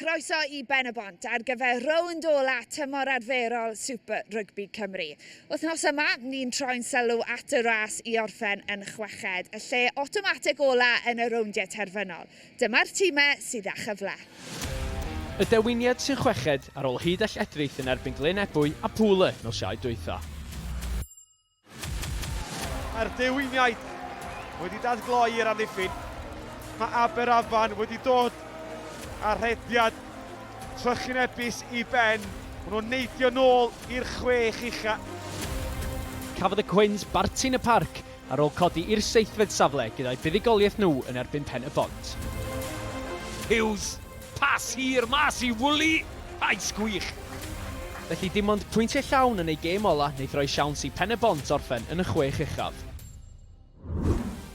Croeso i Ben-y-bont ar gyfer rownd ola tymor arferol Super Rygbi Cymru. Wythnos yma, ni'n troi'n sylw at y ras i orffen yn chweched, y lle awtomatig ola yn y rowndiau terfynol. Dyma'r timau sydd â chyfle. Y Dewiniad sy'n chweched ar ôl hud a lledrith yn erbyn Glyn Ebwy a Pŵl Y nos Iau dwytha. Mae'r dewiniaid wedi dadgloi i'r amddiffyn. Mae Aberafan wedi dod a rhediad trychinebus i ben. Mae nhw'n neidio nôl i'r chwech ucha. Cafodd y Cwins barti yn y parc ar ôl codi i'r seithfed safle gyda'u buddugoliaeth nhw yn erbyn Pen-y-bont. Hughes Pas hir mas i Woolley! Ais gwych! Felly dim ond pwyntiau llawn yn eu gêm ola wneith roi siawns i Pen-y-bont orffen yn y chwech uchaf.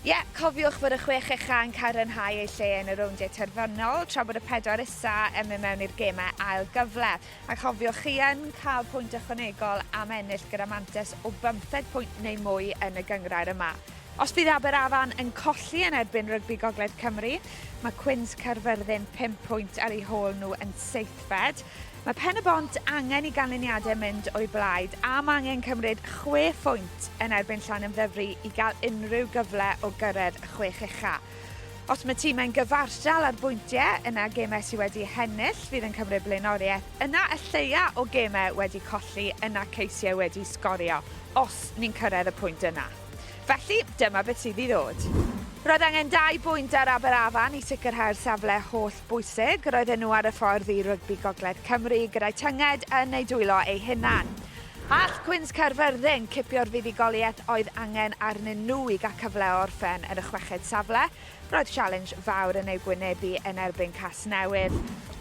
Ie, cofiwch fod y chwech ucha yn cadarnhau eu lle yn y rowndiau terfynol, tra bod y pedwar isa yn mynd mewn i'r gemau ail gyfle. A chofiwch chi yn cael pwynt ychwanegol am ennill gyda mantes o bymtheg pwynt neu mwy yn y gynghrair yma. Os bydd Aberafan yn colli yn erbyn Rygbi Gogledd Cymru, mae Cwins Caerfyrddin pump pwynt ar eu hôl nhw yn seithfed. Mae Pen-y-bont angen i ganlyniadau mynd o'u blaid am angen cymryd chwe phwynt yn erbyn Llanymddyfri i gael unrhyw gyfle o gyrraedd y chwech ucha'. Os mae timau'n gyfartal ar bwyntiau, yna gemau sydd wedi hennill fydd yn cymryd blaenoriaeth, yna y lleia o gemau wedi colli, yna ceisiau wedi sgorio, os ni'n cyrraedd y pwynt yna. Felly, dyma beth sydd i ddod. Roedd angen dau bwynt ar Aberafan i sicrhau'r safle holl bwysig. Roedden nhw ar y ffordd i Rygbi Gogledd Cymru gyda'i tynged yn eu dwylo eu hunan. All Cwins Caerfyrddin cipio'r fuddugoliaeth oedd angen arnyn nhw i gael cyfle o orffen yn y chweched safle? Roedd sialens fawr yn eu gwynebu yn erbyn Casnewydd.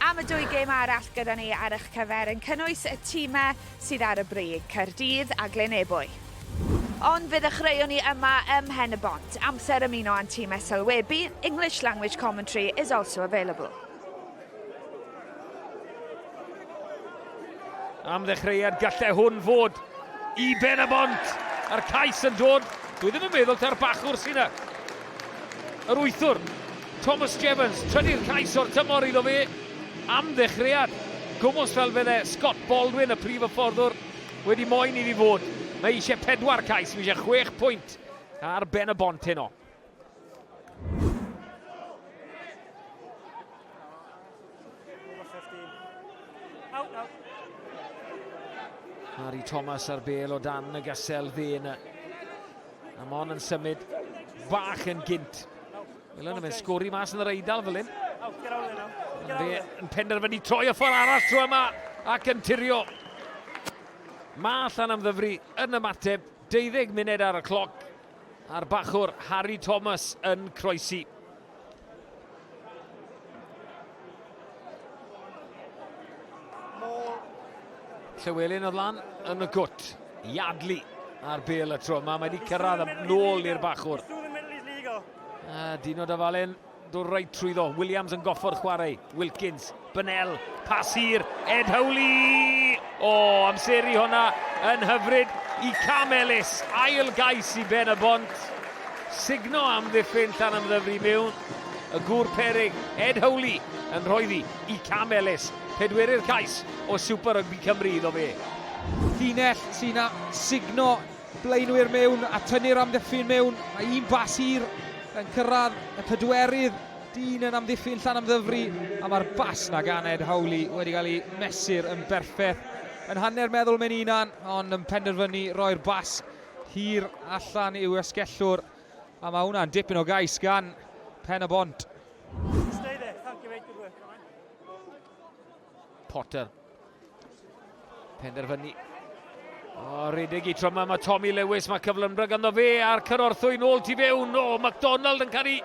Am y dwy gêm arall gyda ni ar eich cyfer, yn cynnwys y timau sydd ar y brig, Caerdydd a Glyn Ebwy. Ond fe ddechreuon ni yma ym Mhen-y-bont, amser ymuno â'n tîm SLWeBi, English language commentary is also available. Am ddechreuad gallai hwn fod i ben y bont. A'r cais yn dod, dwi ddim yn meddwl ta'r bachwr sy'n yr wythwr. Thomas Jevons, trydydd cais o'r tymor iddo fe am ddechreuad gwmws fel fydde Scott Baldwin, y prif hyfforddwr, wedi moyn iddi fod. Mae eisiau pedwar cais, mae eisiau chwech pwynt ar ben y bont heno. Harry Thomas ar bel o dan y gasel dde yna. Amon yn symud bach yn gynt. Fel yna, mae'n sgori mas yn yr eidl fel hyn. Fe yn penderfynu troi y ffordd arall tro yma ac yn tirio. Mae allan am ddyfru yn ymateb 12 munud ar y cloc a'r bachwr Harry Thomas yn croesi. Llywelyn oedd lan yn y gwt. Iadlu ar bel y tro. Mae wedi cyrraedd yn nôl i'r bachwr. A Dino Dafalen, dod reit trwyddo. Williams yn goffo'r chwarae. Wilkins Bennell, pas hir, Ed Howley! O, oh, amseru hwnna yn hyfryd i Cam Ellis, ail gais i Ben y Bont. Signo am ddiffyn llan ymddyfru mewn y gŵr perig, Ed Howley, yn rhoeddi i Cam Ellis, pedwerydd cais o Super Rugby Cymru iddo fe. Ffinell sy'n signo blaenwyr mewn a tynnu'r amddiffyn mewn. Mae un bas hir yn cyrraedd y pedwerydd. Dean yn amddiffyn Llanymddyfri a mae'r bas 'na gan Ed Howley wedi cael ei mesur yn berffeth. Yn hanner meddwl mae'n unan, ond yn penderfynu roi'r bas hir allan i'w esgellwr. A mae hwnna'n dipyn o gais gan Pen-y-bont. Potter. Penderfynu. O, rhedeg i tro yma, mae Tommy Lewis, mae cyflymdra ganddo fe a'r cyrorthwy nôl tu fewn. O, McDonald yn cael ei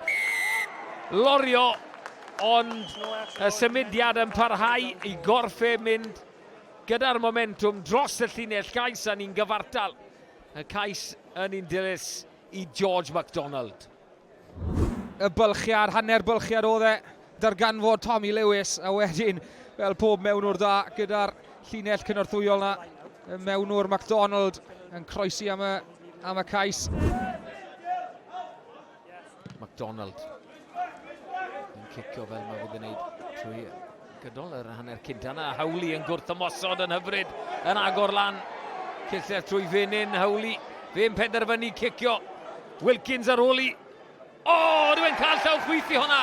lorio, ond y symudiad yn parhau i gorffe mynd gyda'r momentum dros y llinell gais a ni'n gyfartal. Y cais yn un dilys i George McDonald. Y bylchiad, hanner bylchiad oedd e, darganfod Tommy Lewis, a wedyn, fel pob mewnwr da, gyda'r llinell cynorthwyol na, y mewnwr MacDonald yn croesi am y, am y cais. MacDonald yn cicio fel mae wedi gwneud trwy Gydol yr hanner cynt yna, Howley yn gwrthymosod yn hyfryd, yn agor lan. Cysell trwy Fenyn, Howley. Fe'n penderfynu cicio. Wilkins ar ôl i. O, oh, rwy'n cael llaw chwith i hwnna.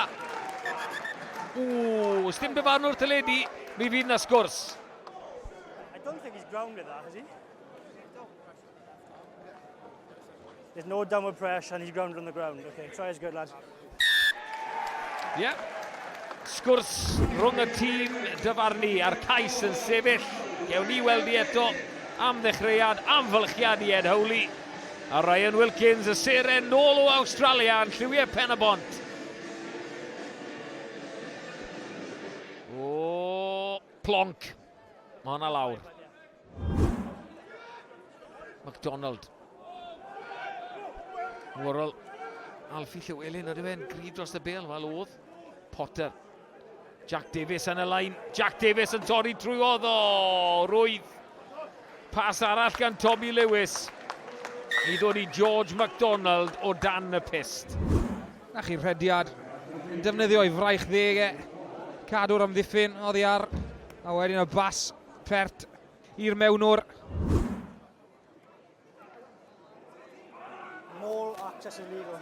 Ww, sdim dyfarnwr teledu, mi fydd na sgwrs. I don't think he's ground with that, has he? There's no downward pressure and he's grounded on the ground. Okay, try is good, lad. Yeah. Sgwrs rhwng y tîm dyfarnu a'r cais yn sefyll. Gewn ni weld i eto am ddechreuad amfylchiad i Ed Howley. A Ryan Wilkins y seren nôl o Australia yn lliwiau pen y bont. O, plonc. Mae hwnna lawr. McDonald. Worrell. Alfie Llywelyn, ydyw e'n gryf dros y bel? Wel, oedd. Potter. Jack Davies yn y lain. Jack Davies yn torri trwy oedd o. Rwydd. Pas arall gan Tommy Lewis. I ddod i George MacDonald o dan y pist. Na chi'r rhediad. Yn defnyddio'i fraich ddeg e. Cadw'r amddiffyn oddi ar. A wedyn y bas Pert i'r mewnwr. Mall access illegal.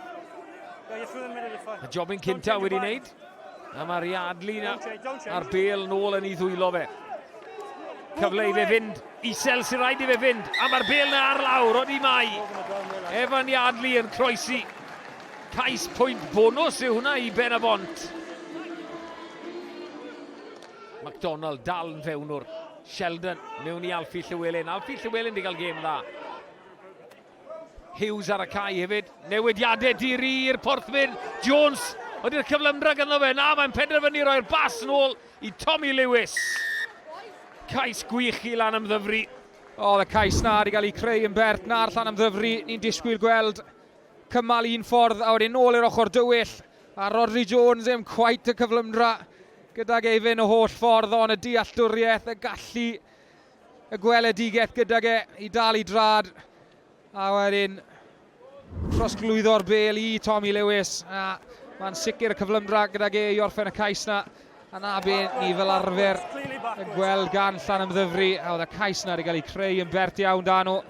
Y jobyn cynta wedi wneud. A mae'r Yardley na a'r bel nôl yn ei ddwylo fe. Cyfle i fe fynd isel sy'n rhaid i fe fynd. A mae'r bel na ar lawr, oeddi mai. Evan Yardley yn croesi. Cais pwynt bonus yw hwnna i Ben y Bont. McDonald dal yn fewnwr. Sheldon mewn i Alfie Llywelyn. Alfie Llywelyn di gael gêm dda. Hughes ar y cae hefyd. Newidiadau dir i'r porthfyd. Jones, ydy'r cyflymdra ganddo fe? Na, mae'n penderfynu roi'r bas yn ôl i Tommy Lewis. Cais gwych i lan am ddyfru. O, y cais na wedi cael ei creu yn bert na'r llan am ddyfru. Ni'n disgwyl gweld cymal un ffordd a wedyn ôl i'r ochr dywyll. A Rhodri Jones ddim cweit y cyflymdra gydag ei fyn y holl ffordd on y dealltwriaeth, y gallu, y gweledigaeth gydag e i dal i drad. A wedyn trosglwyddo'r bel i Tommy Lewis. A mae'n sicr y cyflymdra gydag e i orffen y cais na. A na be ni fel arfer yn gweld gan Llan Ymddyfri. A oedd y cais na wedi cael ei creu yn bert iawn dan nhw.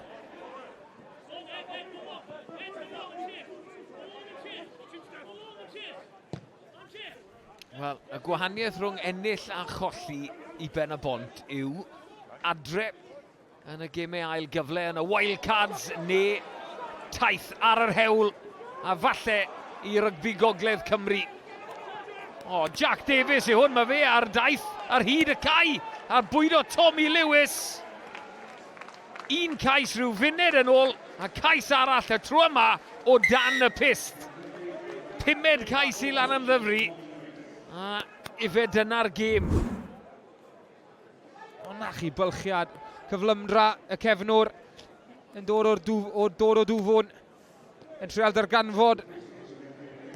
Wel, y gwahaniaeth rhwng ennill a cholli i ben y bont yw adre yn y gemau ail gyfle yn y Wildcards neu taith ar yr hewl a falle i rygbi gogledd Cymru. O, Jack Davies yw hwn, mae fe ar daith ar hyd y cae a bwydo Tommy Lewis. Un cais rhyw funud yn ôl a cais arall y tro yma o dan y pyst. Pumed cais i lan am ddyfru a ife dyna'r gêm. Ona chi bylchiad cyflymdra y cefnwr yn dod o'r dŵf, o dod o dŵfwn. Yn trial darganfod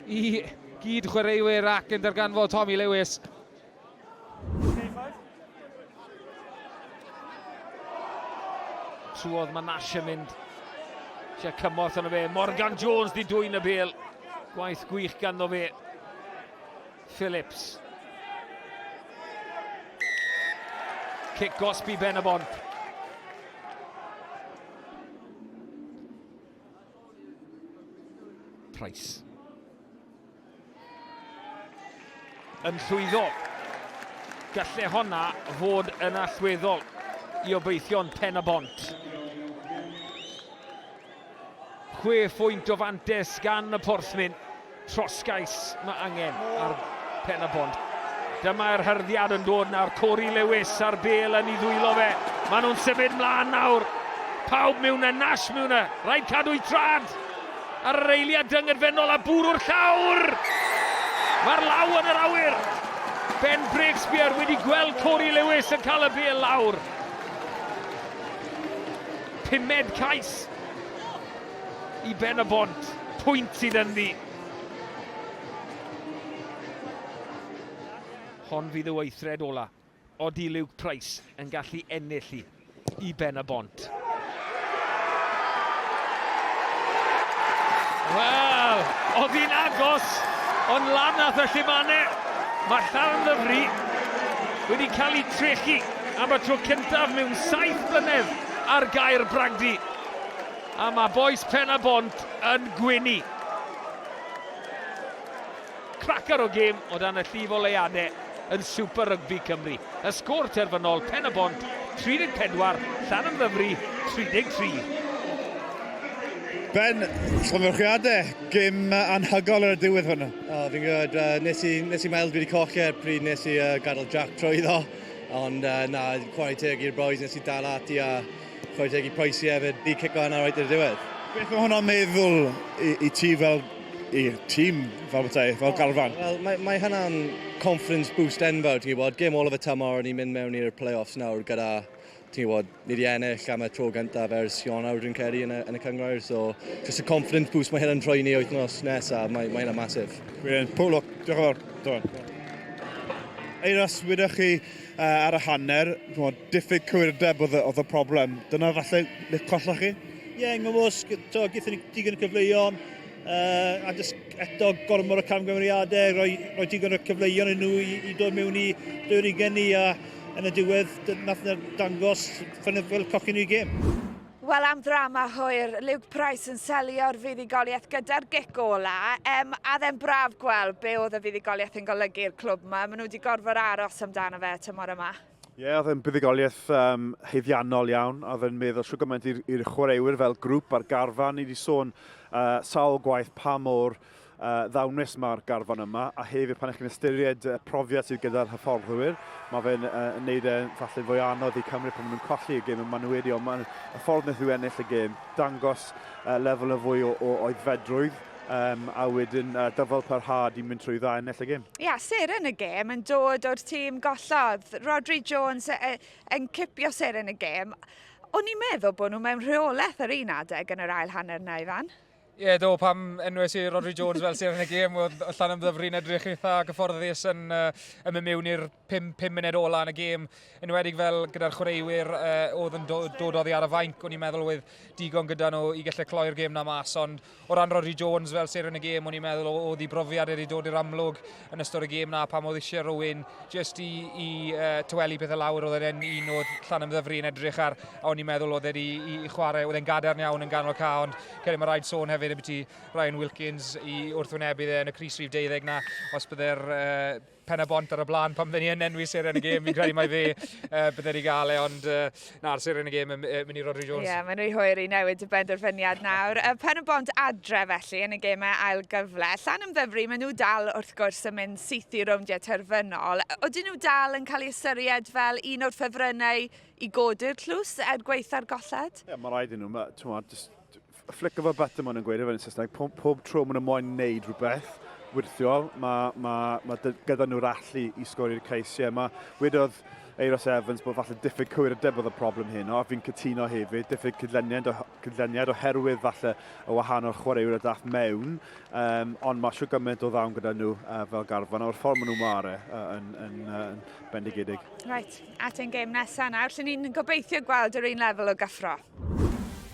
i gyd chwaraewyr ac yn darganfod Tommy Lewis. Trwodd mae Nash yn mynd. Sia cymorth yna fe. Morgan Jones di dwy'n y bel. Gwaith gwych ganddo fe. Phillips. Cic gosbi ben y bont. Price. Yn llwyddo. Galle honna fod yn allweddol i obeithion pen y bont. Chwe phwynt o fantes gan y porthmyn. Troscais mae angen ar Pen-y-bont. Dyma'r hyrddiad yn dod nawr, Cory Lewis a'r bel yn ei ddwylo fe. Maen nhw'n symud mlaen nawr. Pawb mewn a Nash mewn a rhaid cadw'i trad. Ar yr eiliad dyngedfennol a bwrw'r llawr! Mae'r law yn yr awyr! Ben Breakspear wedi gweld Cory Lewis yn cael y bel lawr. Pumed cais i Ben y Bont, pwynt sydd ynddi. Hon fydd y weithred ola. Odi Luke Price yn gallu ennill i i Ben y Bont. Wel, oedd hi'n agos, ond lan nath y llumane. Mae Llanddybri wedi cael ei trechu am y tro cyntaf mewn saith blynedd ar gair Bragdy. A mae bois Pen-y-bont yn gwenu. Cracar o gêm o dan y llif o leiadau yn Super Rygbi Cymru. Y sgôr terfynol, Pen-y-bont 34, Llanymddyfri 33. Ben, llongyfarchiadau, gêm anhygoel ar y diwedd hwn. O, fi'n gwybod, uh, nes i, nes i meddwl dwi wedi colli e pryd nes i uh, gadael Jack trwy iddo, ond uh, na, chwarae teg i'r boys, nes i dal ati a Chwarae teg i Pricey hefyd, he kicked that in alright i'r diwedd. Beth mae hwnna'n meddwl i, i ti fel i tîm fel bethau, fel oh, garfan? Wel, mae, mae hynna'n confidence boost enfawr, ti'n gwybod, game all of y tymor, ni'n mynd mewn i'r play-offs nawr gyda, ti'n gwybod, ni wedi ennill am y tro gyntaf ers Ionawr dwi'n credu yn y, yn y cyngrair, so just y confidence boost mae hyn yn rhoi ni wythnos nesaf, mae, mae hynna'n masif. Brilliant, pob lwc, diolch yn fawr. Eiras, wydych chi, uh, ar y hanner, chymod, diffyg cywirdeb oedd, oedd y problem. Dyna falle le colloch chi? Ie, yeah, ngymwysg, gyda ni digon o cyfleuon, uh, a jyst eto gormod o camgymeriadau, rhoi, rhoi digon o cyfleuon yn nhw i, i dod mewn i dwy'r i geni, a yn y diwedd, nath na dangos ffynnydd fel cochyn i'r gêm. Wel am ddrama hwyr, Luke Price yn selio'r fuddugoliaeth gyda'r gic ola, um, a dde'n braf gweld be oedd y fuddugoliaeth yn golygu i'r clwb yma. Maen nhw wedi gorfod aros amdano fe tymor yma. Ie, yeah, oedd yn buddugoliaeth um, heiddiannol iawn, a oedd yn meddwl siw gymaint i'r chwaraewyr fel grŵp a'r garfan. Ni wedi sôn uh, sawl gwaith pa mor uh, ddawnus mae'r garfan yma, a hefyd pan ych chi'n ystyried y profiad sydd gyda'r hyfforddwyr, mae fe'n uh, wneud e falle fwy anodd i Cymru pan maen nhw'n colli y gêm yn manwyri, ond mae'n y ffordd wnaeth nhw ennill y gêm, dangos uh, lefel y fwy o, o oedfedrwydd, um, a wedyn uh, dyfod parhad i mynd trwy dda ennill y gêm. Ia, yeah, ser yn y gêm yn dod o'r tîm gollodd. Rodri Jones e, yn cipio ser yn y gêm. O'n i'n meddwl bod nhw mewn rheolaeth ar un adeg yn yr ail hanner na, Ifan? Ie yeah, do, pam enwes i Rodri Jones fel seren y gêm, oedd allan am ddyfru'n edrych eitha gyfforddus yn, uh, yn mynd mewn i'r 5 munud ola yn y gêm, yn wedig fel gyda'r chwaraewyr uh, oedd yn do, dod oddi ar y fainc, o'n i'n meddwl oedd digon gyda nhw i gallu cloi'r gêm na mas, ond o ran Rodri Jones fel seren y gêm, o'n i'n meddwl oedd i brofiad wedi dod i'r amlwg, yn ystod y gêm na pam oedd eisiau rhywun jyst i, i uh, tywelu pethau lawr. Oedd e'n un o'r llan ymddyfru yn edrych ar a o'n i'n meddwl oedd wedi i, i chwarae. Oedd e'n gadarn iawn yn ganol ca, ond credu mae rhaid sôn hefyd y byti Ryan Wilkins i wrthwynebu dde yn y Cris Rhif 12 na os byddai'r uh, pen y bont ar y blaen pan fydden ni yn enwi seren y gêm. Fi'n credu mai fe uh, bydden ni gael e, ond uh, Na'r seren y gêm yn uh, mynd i Rodri Jones. Ie, yeah, mae'n rhy hwyr i newid y benderfyniad nawr. Y pen y bont adre felly yn y gemau ail gyfle. Llan ymddyfru, maen nhw dal wrth gwrs yn mynd syth i rowndiau terfynol. Oedden nhw dal yn cael ei ystyried fel un o'r ffefrynnau i godi'r tlws er gweitha'r golled? Ie, yeah, mae rhaid i nhw. Mae, A flick of a button maen nhw'n gweud efo'n Saesneg, pob, pob tro maen nhw moyn wneud rhywbeth wirthiol, mae, mae, mae gyda nhw'r allu i sgori'r cais. Ie, mae wedodd Eiros Evans bod falle diffyg cywir y debodd y problem hyn, o, fi'n cytuno hefyd, diffyg cydleniad, cydleniad oherwydd falle y wahanol chwaraewyr y dath mewn, um, ond mae siw gymaint o ddawn gyda nhw uh, fel garfan, o'r ffordd maen nhw mare uh, yn, yn, uh, yn bendigedig. Right, at ein gêm nesaf nawr, lle ni'n gobeithio gweld yr un lefel o gyffro.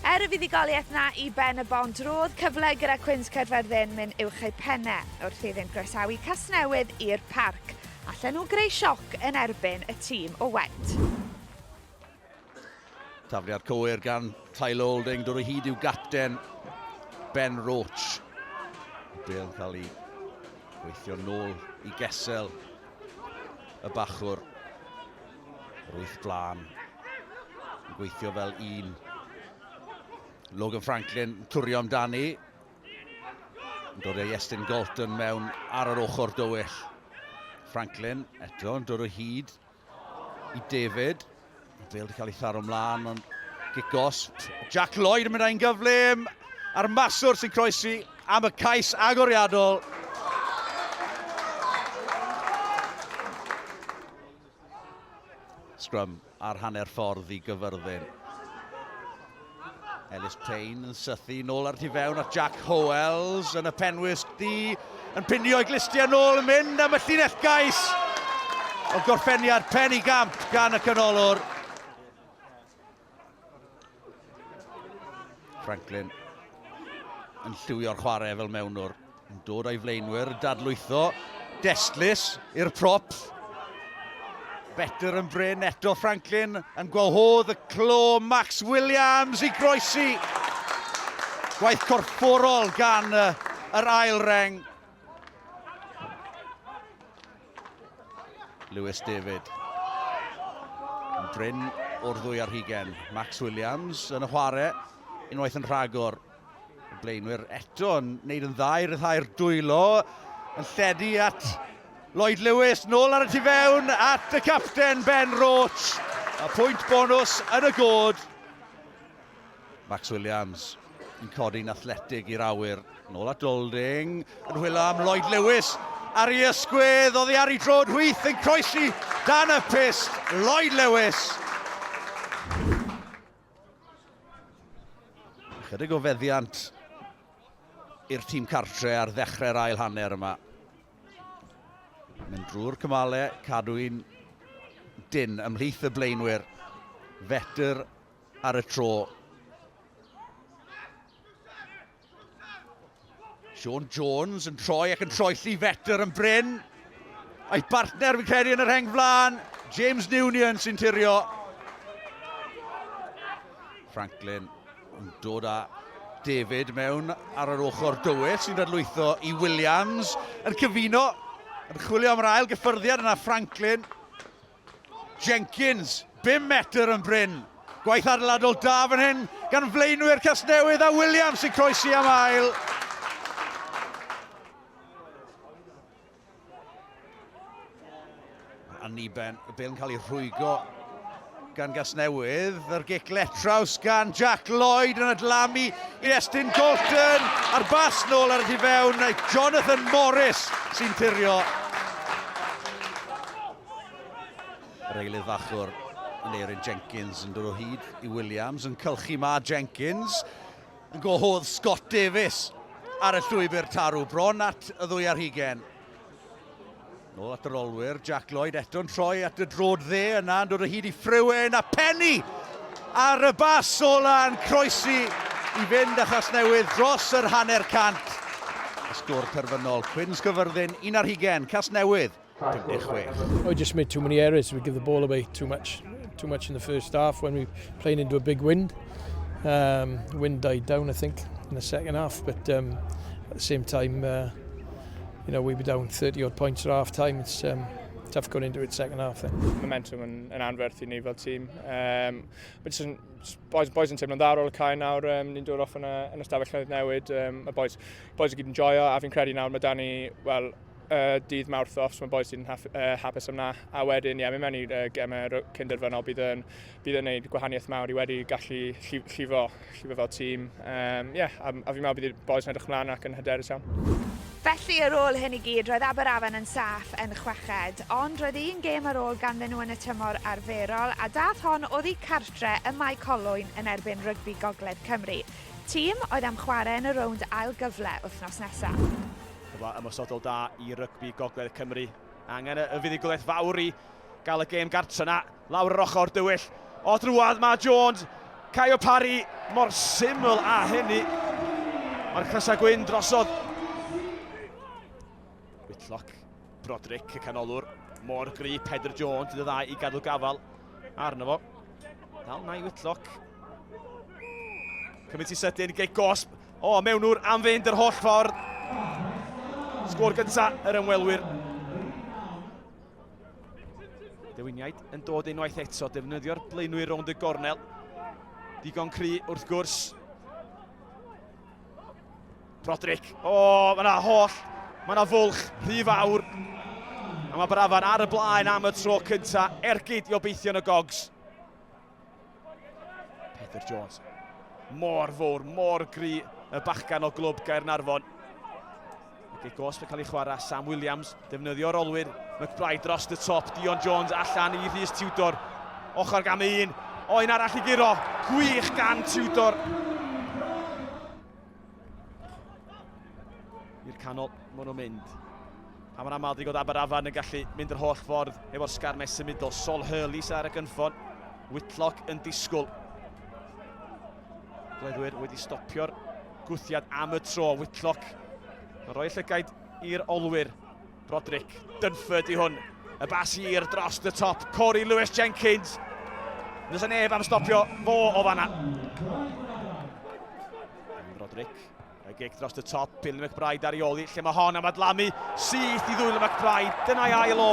Er y fuddugoliaeth 'na i Ben y Bont, ro'dd cyfle gyda Cwins Caerfyrddin myn uwch eu penne wrth iddynt groesawu Casnewydd i'r Parc. Allen nhw greu sioc yn erbyn y tîm o Went. Tafliad cywir gan Tyler Olding, dod o hyd i'w gapten Ben Roach. Bel yn cael ei weithio nôl i gesel y bachwr. Yr wyth blaen. Yn gweithio fel un. Logan Franklin yn cwrio amdani. Yn dod ei Estyn Galton mewn ar yr ochr dywyll. Franklin eto yn dod o hyd i David. Mae Bale wedi cael ei tharo mlaen, ond gigos. Jack Lloyd yn mynd â'n gyflym a'r maswr sy'n croesi am y cais agoriadol. Scrum ar hanner ffordd i gyfyrddin. Ellis Payne yn sythu nôl ar tu fewn at Jack Howells yn y penwys di yn pinio i glistiau nôl yn mynd am y llinell gais o gorffeniad pen i gamp gan y canolwr. Franklin yn lliwio'r chwarae fel mewnwr. Yn dod o'i flaenwyr, dadlwytho. Destlus i'r prop. Better yn bryn eto Franklin yn gwahodd y clo Max Williams i groesi. Gwaith corfforol gan yr ail reng. Lewis David. Yn brin o'r ddwy ar hugen. Max Williams yn y chwarae. Unwaith yn rhagor. Y blaenwyr eto yn neud yn dda i ryddhau'r dwylo. Yn lledu at Lloyd Lewis. Nôl ar y tu fewn at y capten Ben Roach. A pwynt bonus yn y god. Max Williams yn codi'n athletig i'r awyr. Nôl at Golding, yn hwylo am Lloyd Lewis. Ar ei ysgwydd, oddi ar ei drod hwyth yn croesi dan y pist, Lloyd Lewis. Chydig o feddiant i'r tîm cartre ar ddechrau'r ail hanner yma. Mynd drwy'r cymale, cadw un dyn ymhlith y blaenwyr. Fetr ar y tro. Sean Jones yn troi ac yn troelli fetr yn bryn. A'i bartner fi'n credu yn yr heng flan, James Newnion sy'n tirio. Franklin yn dod â David mewn ar yr ochr dywyll sy'n dadlwytho i Williams yn cyfuno yn chwilio am yr ail gyffyrddiad yna Franklin Jenkins, bum metr yn brin. Gwaith adeiladol da fan hyn gan flaenwyr Casnewydd a Williams sy'n croesi am ail. Anniben, y bel yn cael ei rhwygo gan Gasnewydd. Yr gic letraws gan Jack Lloyd yn adlamu i Estyn Colton a'r bas nôl ar y tu fewn. Jonathan Morris sy'n tirio Yr eilydd fachwr yn Eirin Jenkins yn dod o hyd i Williams yn cylchu ma Jenkins yn gwahodd Scott Davies ar y llwybr tarw bron at y ddwy ar hugen. Nôl at yr olwyr, Jack Lloyd eto'n troi at y drod dde yna yn dod o hyd i Frewen a Penny ar y bas ola yn croesi i fynd a Chasnewydd dros yr hanner cant. Y sgwr terfynol, Cwins Gyfyrddin, un ar hugen, Casnewydd 56. I just made too many errors. We give the ball away too much, too much in the first half when we playing into a big wind. Um, wind died down, I think, in the second half. But um, at the same time, uh, you know, we were down 30 odd points at half time. It's um, tough going into it second half. Then. Momentum yn, yn anferth i ni fel tîm. Um, but just, boys, boys yn teimlo'n dda ar ôl y cae nawr, um, ni'n dod off yn y, yn y stafell newid. Um, y boys, boys yn gyd yn joio, a fi'n credu nawr mae Dani, well, y dydd Mawrth off, so mae boys sy'n haf, uh, hapus am na. A wedyn, ie, yeah, mynd mewn i'r uh, gemau cynderfynol, bydd yn, bydd yn neud gwahaniaeth mawr i wedi gallu llifo, llifo fel tîm. Um, yeah, a, a fi'n meddwl bydd y boys yn edrych mlaen ac yn hyderus iawn. Felly, ar ôl hyn i gyd, roedd Aberafan yn saff yn chweched, ond roedd un gêm ar ôl ganddyn nhw yn y tymor arferol, a dath hon oddi cartre y Mae Colwyn yn erbyn rygbi Gogledd Cymru, tîm oedd am chwarae yn y rownd ail gyfle wythnos nesaf. Cyfle ymosodol da i rygbi Gogledd Cymru. Angen y fuddugoliaeth fawr i gael y gêm gartre na lawr yr ochr dywyll. O drwad mae Jones, Caio Parry mor syml a hynny. Mae'r crysau gwyn drosodd. Whitlock, Broderick y canolwr, mor gry, Pedr Jones, dydd y ddau i gadw gafal arno fo. Dal na i Whitlock. Cymryd i sydyn, gei gosb, O, mewnwr am fynd yr holl ffordd. Sgôr gynta yr ymwelwyr. Dewiniaid yn dod unwaith eto, defnyddio'r blaenwyr rownd y gornel. Digon cry wrth gwrs. Broderick. O, oh, mae yna holl, mae yna fwlch rhy fawr. A mae Brafan ar y blaen am y tro cynta, ergyd i obeithio yn y gogs. Peter Jones. Mor fawr, mor gry y bachgan o glwb Gaernarfon. Ac ei gosb yn cael ei chwarae Sam Williams, defnyddio'r olwyr. McBride dros y top, Dion Jones allan i Rhys Tudor. Ochr gam un, o un arall i guro. Gwych gan Tudor. I'r canol, maen nhw'n mynd. A mae'n aml ddigodd Aberafan yn gallu mynd yr holl ffordd efo'r sgar nes symudol. Sol Hurley sy'n ar y gynffon. Whitlock yn disgwyl. Gleddwyr wedi stopio'r gwthiad am y tro. Whitlock yn rhoi llygaid i'r olwyr. Broderick Dunford i hwn. Y bas hir dros y top. Corey Lewis Jenkins. Nes y neb am stopio fo o fanna. Broderick. Y gig dros y top, Billy McBride ar ioli, lle mae hon am adlamu syth i ddwyl y McBride. Dyna'i ail o,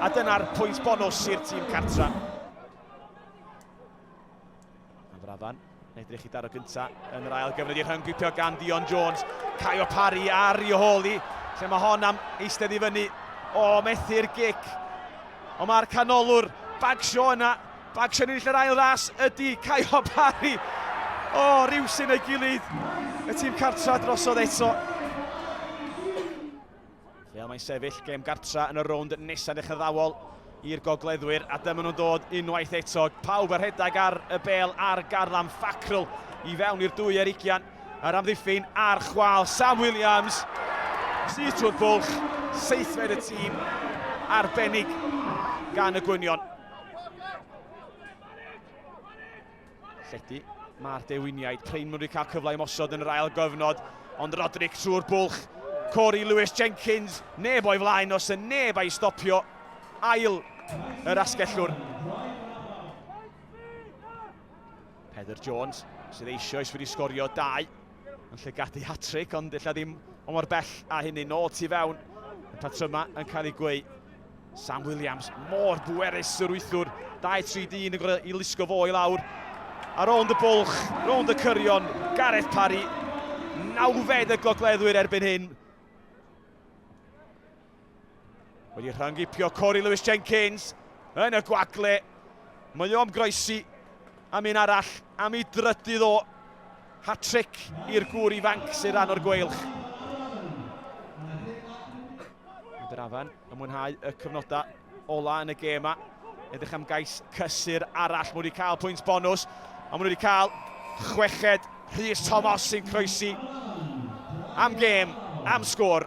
a dyna'r pwynt bonus i'r tîm cartra. Yn frafan, edrych i daro gynta yn yr ail gyfnod i'r hyn gwipio gan Dion Jones. Caio Parry ar i holi, lle mae hon am eistedd i fyny. O, methu'r gic. Ond mae'r canolwr bagsio yna. Bagsio ni'n yr ail ras ydy Caio Parry. O, rhyw sy'n ei gilydd. Y tîm cartra drosodd eto. Lle y mae'n sefyll gêm gartra yn y rownd nesaf yn eich addawol i'r gogleddwyr a dyma nhw'n dod unwaith eto. Pawb a rhedeg ar y bel ar garlam Fackrell i fewn i'r dwy ar ugian. Yr amddiffyn a'r chwal Sam Williams. Sydd trwy'r bwlch, seithfed y tîm arbennig gan y gwynion. Llety, mae'r dewiniaid, Kleinman wedi cael cyfle i mosod yn yr ail gyfnod, ond Roderick trwy'r bwlch, Corey Lewis Jenkins, neb o'i flaen os yn neb a'i stopio, ail yr asgellwr. Heather Jones, sydd eisoes wedi sgorio dau yn llygadu hat-tric, ond illa ddim o mor bell a hynny. Nôl tu fewn, y patrymau yn cael ei gweu. Sam Williams, mor bwerus yr wythwr, 2-3 dyn yn gorau i lusgo fo i lawr. A rownd y bwlch, rownd y cyrion, Gareth Parry, nawfed y gogleddwyr erbyn hyn. Wedi rhangipio Corey Lewis Jenkins yn y gwagle. Mae o am groesi am un arall, am ei drydydd o hat-trick i'r gŵr ifanc sy'n rhan o'r gweilch. Mynd yr afan yn mwynhau y cyfnodau ola yn y gêm yma. Edrych am gais cysur arall. Mae wedi cael pwynt bonus. A mae wedi cael chweched Rhys Thomas sy'n croesi am gêm, am sgwr.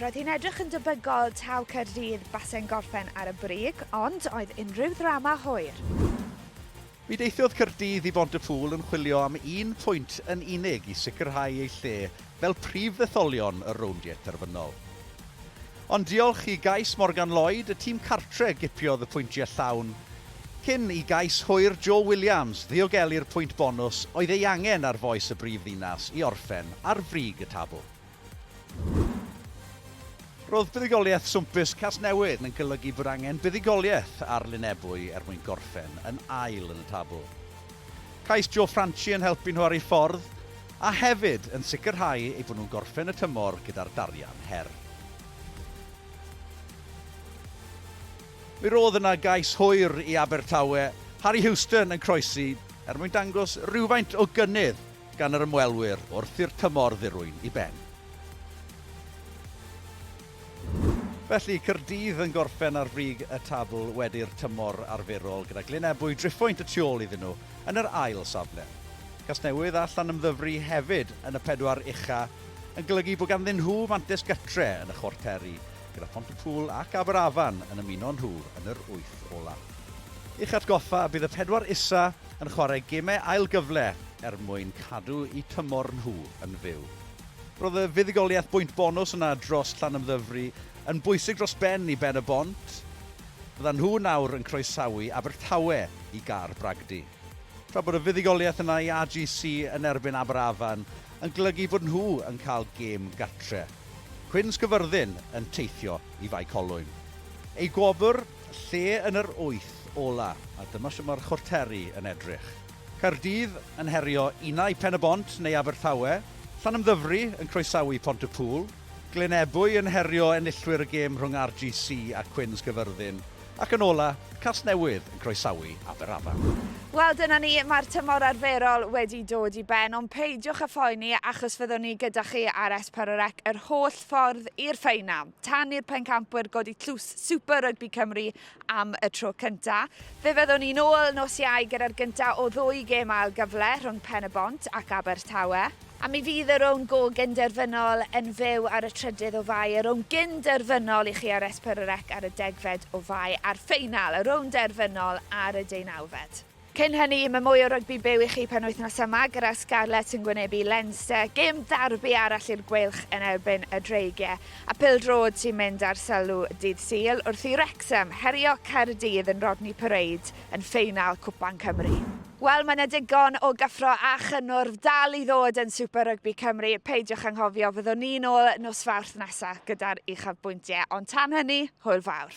Roedd hi'n edrych yn debygol taw Caerdydd base'n gorffen ar y brig, ond oedd unrhyw ddrama hwyr. Mi deithiodd Caerdydd i Bontyffŵl yn chwilio am un pwynt yn unig i sicrhau eu lle fel prif ddetholion y rowndiau terfynol. Ond diolch i gais Morgan Lloyd, y tîm cartre gipiodd y pwyntiau llawn, cyn i gais hwyr Joe Williams ddiogelu'r pwynt bonws oedd ei angen ar fois y brif ddinas i orffen ar frig y tabl. Roedd buddugoliaeth swmpus Casnewydd yn golygu bod angen buddugoliaeth ar Lyn Ebwy er mwyn gorffen yn ail yn y tabl. Caiff Joe Franchi yn helpu nhw ar eu ffordd, a hefyd yn sicrhau eu bod nhw'n gorffen y tymor gyda'r darian her. Mi roedd yna gais hwyr i Abertawe, Harry Houston yn croesi er mwyn dangos rhywfaint o gynnydd gan yr ymwelwyr wrth i'r tymor ddirwyn i ben. Felly, Caerdydd yn gorffen ar frig y tabl wedi'r tymor arferol, gyda Glyn Ebwy driphwynt y tu ôl iddyn nhw yn yr ail safle. Casnewydd a Llanymddyfri hefyd yn y pedwar ucha' yn golygu bod ganddyn nhw fantes gytre yn y chwarteri, gyda Phontypŵl ac Aberafan yn ymuno nhw yn yr wyth ola'. I'ch atgoffa, bydd y pedwar isa' yn chwarae gemau ail gyfle er mwyn cadw eu tymor nhw yn fyw. Roedd y fuddugoliaeth bwynt bonws yna dros Llanymddyfri yn bwysig dros ben i Ben-y-bont. Byddan nhw nawr yn croesawu Abertawe i Gar Bragdy. Tra bod y fuddugoliaeth yna i AGC yn erbyn Aberafan yn golygu bod nhw yn cael gêm gartre'. Cwyn Sgyfyrddin yn teithio i Fae Colwyn. Ei gwobr? Lle yn yr wyth ola, a dyma sut mae'r chwarteri yn edrych. Caerdydd yn herio unai Pen-y-bont neu Abertawe, Llanymddyfri yn croesawu Pont-y-pŵl, Glynebwy yn herio enillwyr y gêm rhwng RGC a Quins Gyfyrddin, ac yn ola, Casnewydd yn croesawu Aberafan. Wel, dyna ni, mae'r tymor arferol wedi dod i ben, ond peidiwch â phoeni achos fyddwn ni gyda chi ar Esparorec yr holl ffordd i'r ffeinal. tan i'r pencampwyr godi tlws Super Rugby Cymru am y tro cynta. Fe fyddwn ni'n ôl nos Iau gyda'r gynta o ddwy gêm ail gyfle rhwng Pen y Bont ac Abertawe. A mi fydd y rownd go gynderfynol yn fyw ar y trydydd o Fai, y rownd gynderfynol i chi ar Esper y Rec ar y degfed o Fai, a'r ffeinal, y rownd derfynol ar y deunawfed. Cyn hynny, mae mwy o rygbi byw i chi penwythnos yma gyda Scarlets yn gwynebu Leinster, gêm darbi arall i'r Gweilch yn erbyn y Dreigiau, a phêl-droed sy'n mynd ar sylw dydd Sul wrth i Wrecsam herio Caerdydd yn Rodney Parade yn ffeinal Cwpan Cymru. Wel, mae 'na digon o gyffro a chynnwrf dal i ddod yn Super Rygbi Cymru, peidiwch anghofio, fyddwn ni'n ôl nos Fawrth nesa' gyda'r uchafbwyntiau, ond tan hynny, hwyl fawr.